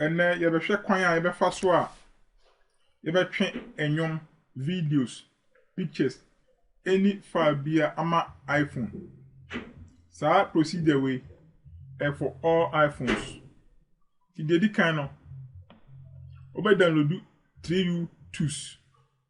Ɛnnɛ yɛbɛhwɛ kwan a yɛbɛfa so a yɛbɛtwe nnwom, videos, pictures ɛnni file bi a ama iPhone. Saa procedure wei ɛyɛ for all iPhones. Nti deɛ ɛdi kan no, wobɛ download 3U tools.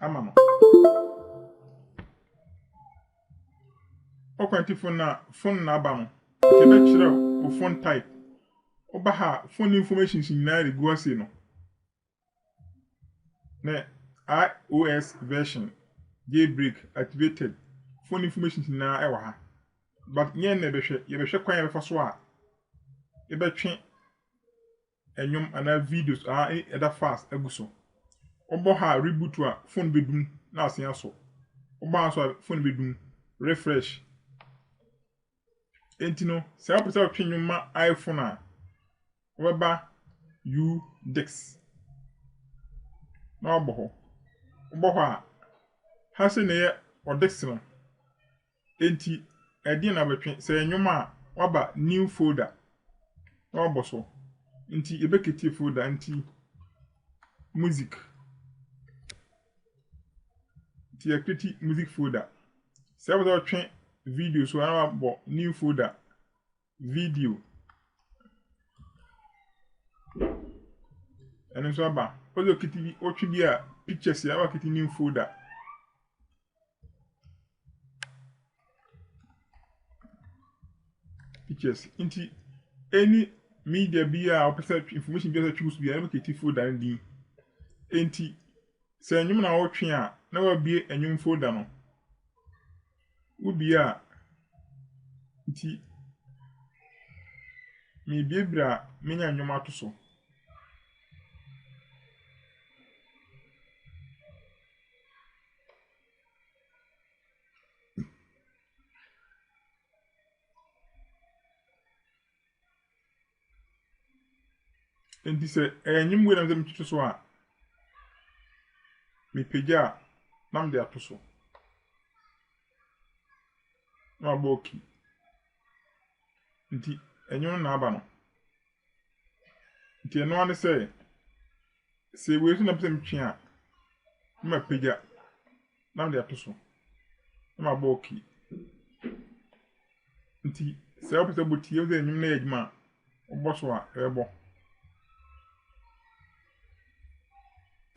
ama no. Ɔkwantifo na fon na aba no, nti ɛbɛkyerɛ wo fon type. Woba ha a, fon informations nyinaa regu ase no. Ne iOS version, jailbreak, activated, fon informations nyinaa ɛwɔ ha. But nyɛ na ɛbɛhwɛ, yɛbɛhwɛ kwan a yɛbɛfa so a yɛbɛtwe Nnwom anaa videos a ɛda fast agu so. Wobɔ ha a reboot a phone bedum na asen asɔ. Wobɔ ha nso a phone bedum, refresh. Enti no, sɛ wopɛ sɛ wotwe nnwom ma iPhone a, wobɛba U Dix na wabɔ hɔ. Wobɔ hɔ a, ha sei na ɛyɛ ɔdix no. Enti ɛdeɛn na bɛtwe? Sɛ ɛyɛ nnwom a, waba new folder na wabɔ so. Nti yɛbɛketie folder nti music. Nti yɛkreti music folder. Sɛ wopɛ sɛ ɔtwe video so a na wabɔ new folder Video. Ɛno nso aba. Wode okiti bi, wotwe bi a, pictures yɛ aba kiti new folder. Pictures. Nti, any media bi a wopɛ sɛ information bi a wopɛ sɛ twe so bi a, ɛbɛ kiti folder no din. Nti, sɛ nnwom na wotwe a, na wabie nnwom folder no. Wodua a, nti mereduadua a, menya nnwom ato so. Enti sɛ ɛyɛ nnwom wei na mepɛ sɛ metutu so a, mepagya a na mede ato so. Na mabɔ oki. Nti ɛnwom no na aba no. Nti ɛno ara ne sɛ. Sɛ wei nso na mepɛ sɛ metwe a, na mapagya na mede ato so na mabɔ ok. Nti sɛ wopɛ sɛ wobɔ ti, ɛwɔ sɛ nnwom no yɛ adwuma a, wobɔ so a ɛbɛbɔ.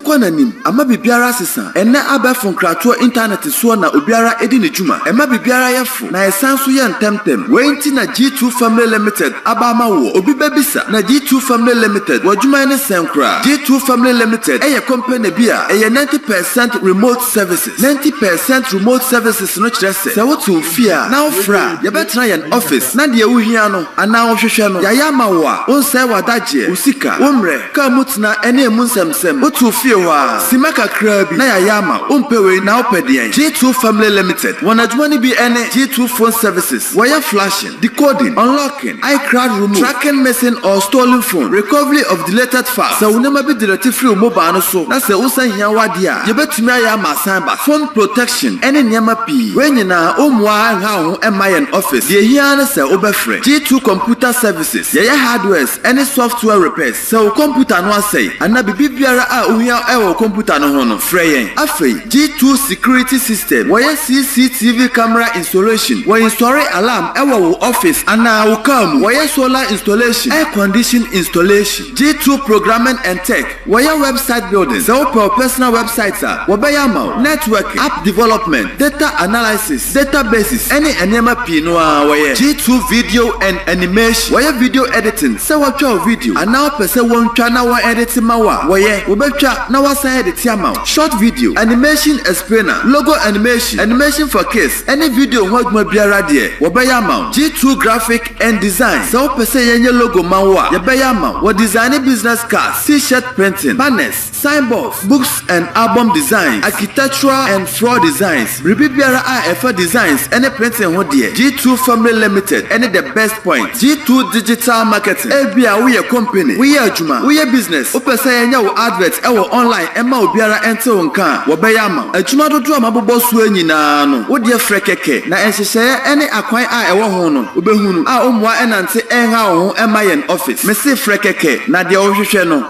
kɔ n'anim ama biribiara asesa. Ɛnnɛ abɛɛfo nkratoɔ intanɛte soɔ na obiara di ne dwuma. Ɛma biribiara yɛ frɛ. na ɛsan nso yɛ ntɛmntɛm. Wei nti na G2 Family Limited aba ama woɔ. Obi bɛbisa, na G2 Family Limited, w'adwuma ne sɛn koraa? G2 Family Limited yɛ company bi a ɛyɛ ninety percent remote services. Ninety percent remote services no kyerɛ sɛ, sɛ wote wo fie a na wofrɛ a, yɛbɛtena yɛn office na deɛ wohia no anaa wohwehwɛ no, yɛayɛ ama wo a, wonsɛe w'adagyeɛ, wo sika, wo mmerɛ, kaa mu tena ne emu nsɛmnsɛm. Sɛ wotow fie hɔ a, simma kakraa bi na yɛayɛ ama wo. Wompɛ wei na wopɛ deɛn? G2 Family Limited, wɔn adwuma no bi ne G2 Phone Services, wɔyɛ flashing, decoding, unlocking, iCloud remove, tracking missing or stolen phone, recovery of deleted files, sɛ wo nneɛma bi delete firi wo mobile no so na sɛ wonsan hia w'adeɛ a, yɛbɛtumi ayɛ ama asan ba, phone protection, ne nneɛma pii. Wei nyinaa, wommua ara nha wo ho mma yɛn office. Deɛ ɛhia ara ne sɛ wobɛfrɛ. G2 Computer Services, yɛyɛ hardwares ne software repairs. Sɛ wo kɔmputa no asɛe anaa biribi biara a wohia wɔ wo kɔmputa no ho no, frɛ yɛn. Afei, G2 Security System, wɔyɛ CCTV camera installation, wɔ nsɔre alarm wɔ wo office anaa wo car mu, wɔyɛ solar installation, air condition installation, G2 Programming and Tech, wɔyɛ website building, sɛ wopɛ wo personal website a, wɔbɛyɛ ama wo, networking, app development, data analysis, Zeta Basis ne nneɛma pii no ara wɔyɛ G2 Video and Animation wɔyɛ video editing sɛ wɔtwa wo video anaa wopɛ sɛ wɔntwa na wɔn edite ma wo a wɔyɛ wɔbɛtwa na wɔasan edite ama wo short video animation explainer logo animation animation for kids ne video ho adwuma biara deɛ wɔbɛyɛ ama wo G2 Graphic and Design sɛ wopɛ sɛ yɛnyɛ logo ma wo a yɛbɛyɛ ama wo wɔ designing business cards t-shirt printing banners Signboards, Books and Album Designs, Architectural and Floor Designs, Biribi biara a ɛfa designs ne printing ho deɛ, G2 Family Limited ne the best point. G2 Digital Marketing, Ebia woyɛ company, woyɛ adwuma, woyɛ business, wopɛ sɛ yɛnyɛ wo advert wɔ online mma obiara nte wo nka a, wɔbɛyɛ ama wo. Adwuma dodoɔ a mabobɔ soɔ yi nyinaa no, wo deɛ frɛ kɛkɛ na nhyehyɛeɛ ne akwan a ɛwɔ ho no, wobɛhunu a wo mmoa nnante nhaw wo ho mma yɛn office. Mese frɛ kɛkɛ na deɛ wohwehwɛ no,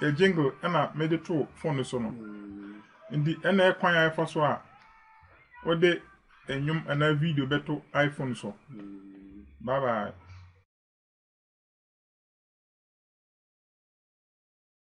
yɛ jingle ɛna mede too phone no so no nti ɛna yɛ kwan a yɛfa so a wode nnwom anaa video bɛto iphone so bye bye